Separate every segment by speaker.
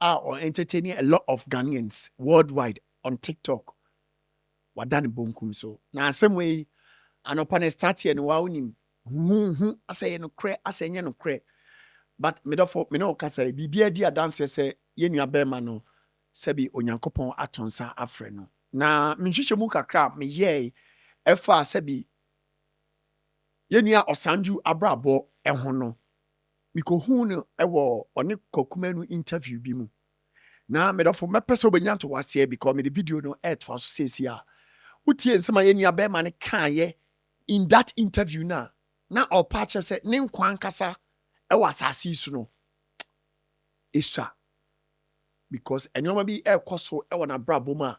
Speaker 1: a ɔ entertain a lot of Ghanaians world wide on TikTok wada ne bonkum so na asɛm wei anɔpa na ɛstarteɛ no waa wonim huhuhu asɛ ɛyɛ nokorɛ asɛ ɛnyɛ nokorɛ but me dɔfo me ne wo kasa yi biribiara di adanseɛ sɛ yɛn nua bɛɛma no sɛbi Onyankopɔn ato nsa afrɛ no. Na me nhwehwɛmu kakra a me yɛɛe ɛfaa sɛbi yɛn nua Ɔsanju abrabɔ ho no Mikohuu no wɔ ɔne Kwaku Manu interview bi mu. Na me dɔfo, mɛpɛ sɛ wobɛnya ntoaseɛ because mede video no retoa so seesei a. Wotie nsɛm a yɛn nua barima no kaeɛ in that interview no a, na ɔrepɛ akyerɛ sɛ ne nkwa ankasa wɔ asase yi so no, ɛsua because nneɛma bi rekɔ so wɔ n'abrabɔ mu a,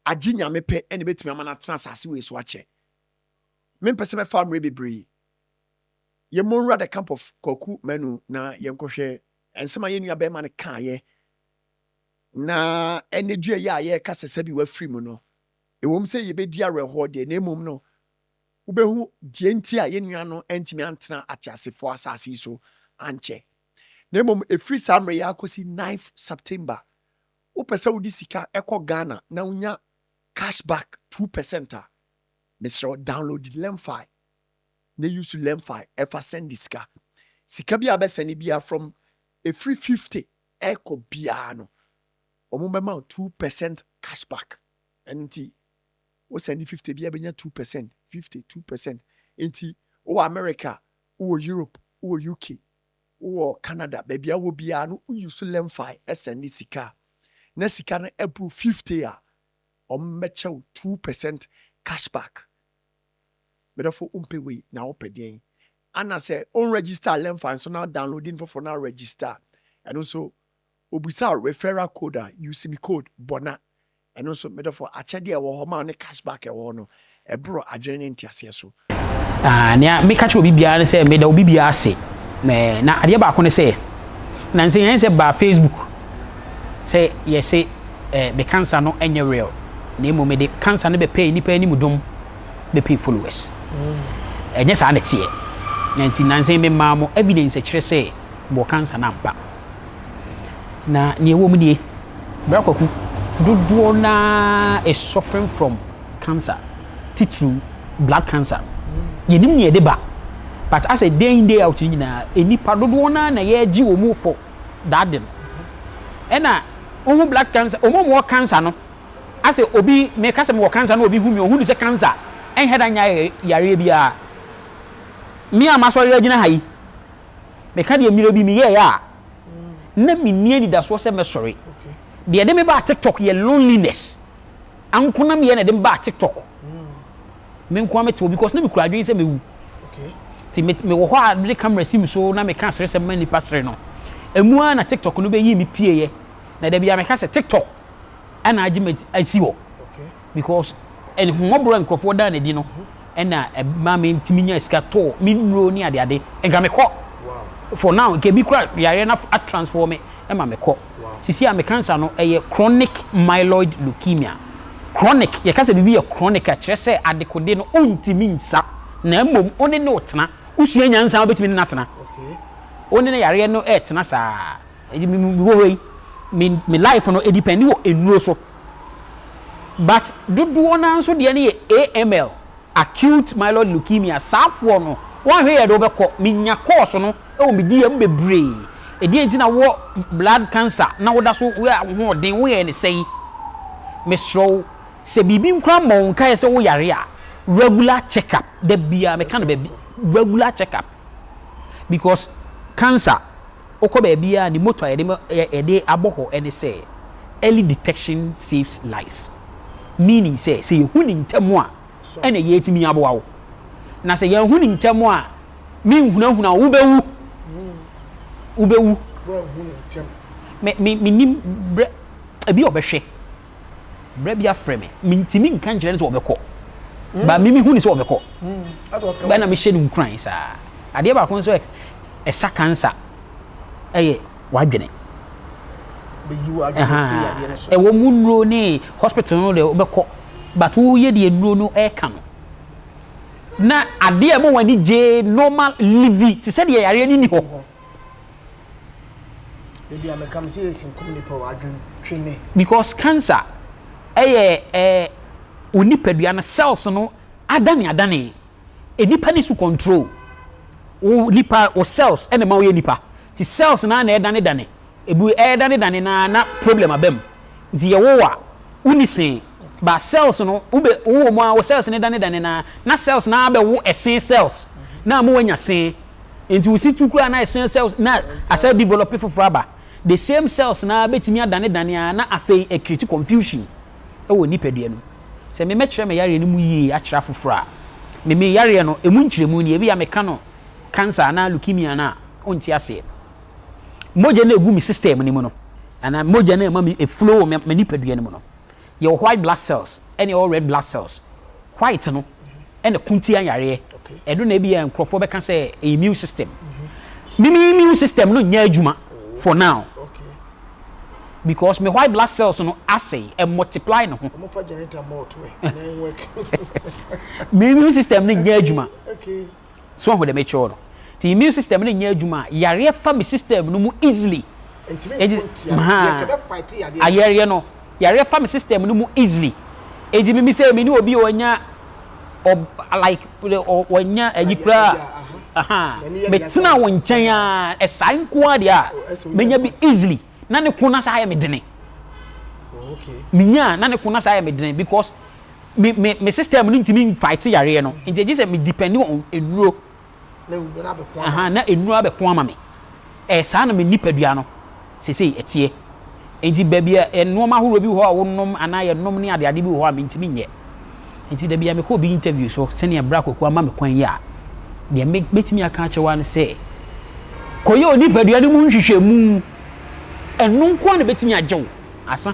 Speaker 1: agye Nyame pɛ na ɛbɛtumi ama no atena asase wei so akyɛ. Mempɛ sɛ mɛfa mmerɛ bebree Yɛmmɔ nwura the camp of Kwaku Manu na yɛnkɔhwɛ nsɛm a yɛn nua barima no kaeɛ na anadwoɛ yi a yɛreka sɛ sɛbi wafiri mu no, ɛwom sɛ yɛbɛdi awerɛhoɔ deɛ na mmom no wobɛhu deɛ nti a yɛn nua no antumi antena ateasefoɔ asase yi so ankyɛ na mmom ɛfiri saa mmerɛ yi ara kɔsi ninth September wopɛ sɛ wode sika kɔ Ghana na wonya cash back two percent a, mesrɛ wo download Lemfi. na use lemfi ɛfa sɛnde sika. Sika biara bɛsɛne biara from ɛfiri fifty ɛkɔ biara no wɔn bɛma wo two percent cash back ɛno nti wo sɛnde fifty biara bɛnya two percent fifty two percent nti wowɔ America wowɔ Europe wowɔ UK wowɔ Canada baabi a wɔ biara no wo use lemfi ɛsɛnde sika na sika no ɛboro fifty a wɔn bɛkyɛ wo two percent cash back me dɔfo wompɛ wei na wopɛ deɛn ana sɛ on register lemfa nso na downloadi no foforɔ na register ɛno nso obisa wo referral code a use me code bɔna ɛno nso me dɔfo akyɛdeɛ a ɛwɔ hɔ ma wo ne cash back a ɛwɔ hɔ no ɛborɔ adwene ne nteaseɛ so. Ah, nea
Speaker 2: meka kyerɛ obi biara ne sɛ meda obi biara ase na adeɛ baako ne sɛ nansa yɛn sɛ baa Facebook Sɛ yɛse eh me cancer no ɛnyɛ real na mmom mede cancer no bɛpɛɛ nnipa anim dom bɛpɛ followers ɛnyɛ saa na ɛteɛ na nti nansa yi memaa mo evidence ɛkyerɛ sɛ mewɔ cancer no ampa na nea ɛwɔ mu nie Bra Kwaku, dodoɔ no ara is suffering from cancer titiriw blood cancer yɛnim nea ɛde ba but asɛ day in day out no nyinaa nnipa dodoɔ no ara na yɛgye wɔn fɔ. dade no ɛna wohu blood cancer wɔn a wɔwɔ cancer no asɛ obi meka sɛ mewɔ cancer na obi hu mi ohun sɛ cancer ɛnhɛ da nya yareɛ biara me a masɔre agyina ha yi meka deɛ mmerɛ bi meyɛɛ a na menni anidasoɔ sɛ mɛsɔre deɛ ɛde me baa tiktok yɛ loneliness ankonam yɛ na ɛde me baa tiktok me nko ara mete hɔ because na mekura adwene sɛ mɛwu nti mewɔ hɔ a mede camera si me so na meka seresɛm ma nnipa sere no ɛmu ara na tiktok no bɛyi me pieeɛ na da bia meka sɛ tiktok ɛna agye me asi hɔ because ɛhommɔborɔ a nkurɔfoɔ daa no adi no ɛna ɛma me ntumi nya sika tɔɔ me nnuro ne adeade nka mekɔ for now nka ebi kora yareɛ no atransform me ma mekɔ. Seesei a mekansa no, ɛyɛ chronic myeloid leukemia. Chronic, yɛka sɛ biribi yɛ chronic a, kyerɛ sɛ adekode no ontumi nsa, na mmom wo ne no retena. Wosua nyansa a, wobɛtumi ne no atena. Wo ne no yareɛ no retena saa. Enti me, mewɔ hɔ yi, me, me life no, ɛdipɛnde wɔ nnuro so. But dodoɔ no ara nso deɛ no yɛ AML, acute myeloid leukemia. Saafoɔ no, woanhwɛ yie a, ɛde wo bɛkɔ. Menya kɔɔso no. Ɛwɔ me diyɛ mu bebree. Ɛdeɛn nti na wowɔ blood cancer na woda so woyɛ ahoɔden woyɛɛ ne sɛn? Mesrɛ wo sɛ biribi nkura mmɔ wo nkaeɛ sɛ woyare a regular check up da biara meka no baabi regular check up because cancer wokɔ baabiara ne motto a yɛde ma yɛde abɔ hɔ ne sɛ early detection saves lives meaning sɛ sɛ yɛhu ne ntɛm a na yeetumi aboa wo. Na sɛ yɛanhu no ntɛm a, menhunahuna wo, wubewu. Wubewu. Me, me, menim berɛ, ebi ɔbɛhwɛ. Berɛ bi afrɛ me, mentumi nka nkyerɛ no sɛ ɔbɛkɔ. Mm. Ba me mehu no sɛ ɔbɛkɔ. Mm. Bɛna mehyɛ no nkuran saa. Adeɛ baako nso ɛsa kansa ɛyɛ. w'adwene. Bɛyi wo adwene Ɛhaa, firi adeɛ no so. ɛwɔ mu nnuro ne hospital no deɛ wobɛkɔ but woyɛ deɛ nnuro no ɛreka no na adeɛ a ɛma wɔn ani gye normal livi te sɛ deɛ yareɛ no nni hɔ. Da bi a mɛka me sɛ yɛsi nkum nipa o, adwene twe me. Because cancer ɛyɛ ɛɛ wo nipadua no cells no adane adane. Nnipa ne su control wo nipa wo cells na ɛma woyɛ nipa nti cells no ara na ɛdanedane ɛbu ɛdanedane no ara na problem aba mu nti yɛwo wo a wonni se ba cells no wobɛ wowɔ mu ara wo cells no danedane no ara na cells no ara bɛwo ɛse cells na ama woanya se nti wo si tu koraa na ɛse cells na asɛ develop foforɔ aba the same cells no ara bɛtumi adanedane ara na afei ɛkriti confusion wɔ nipadua no mu. Sɛ memɛkyerɛ me yareɛ no mu yie akyerɛ afoforɔ a, me me yareɛ no ɛmu nkyerɛmu nie, ebia meka no cancer anaa leukemia no a, wonte aseɛ. Mogya no a ɛgu me system no mu no, anaa mogya no a ɛma me ɛflow wɔ me nipadua no mu no, yɛwɔ white blood cells ɛne yɛwɔ red blood cells. white no na ko tia yareɛ, ɛno na ebia nkorɔfoɔ bɛka sɛ ɛyɛ immune system. Me me immune system no nyɛ adwuma for now because me white blood cells no asɛe, ɛ multiply ne ho. Me immune system no nyɛ adwuma. So ahu dɛm ekyir no ntsi immune system no nnyɛ edwuma a yareɛ fa me system no mu easily edzi mha ayɛreɛ no yareɛ fa me system no mu easily edzi mimi sɛ mini obi a ɔanya ɔb like ɔanya ayi kura aha metsena wo nkyɛn a ɛsae nkoa deɛ a menya bi easily na ne ko na saa ayɛ me dene menyaa na ne ko na saa ayɛ me dene because me me me system no ntumi nfight yareɛ no nti ɛgye sɛ me depend on nnuro ahaa na nnuro abɛko ama me ɛɛ saa na me nipadua no sesei ɛteɛ nti baabi a nnoɔma ahoroɔ bi wɔ hɔ a wonom anaa yɛnom ne adeade bi wɔ hɔ a mentumi nyɛ nti da bi a mekɔ obi interview so sɛnea bra kɔkɔ ama me kwan yi a deɛ mɛtumi aka akyerɛ wa no sɛ kɔyɛ onipadua no mu nhwehwɛmu ɛno nko a na bɛtumi agye wo asa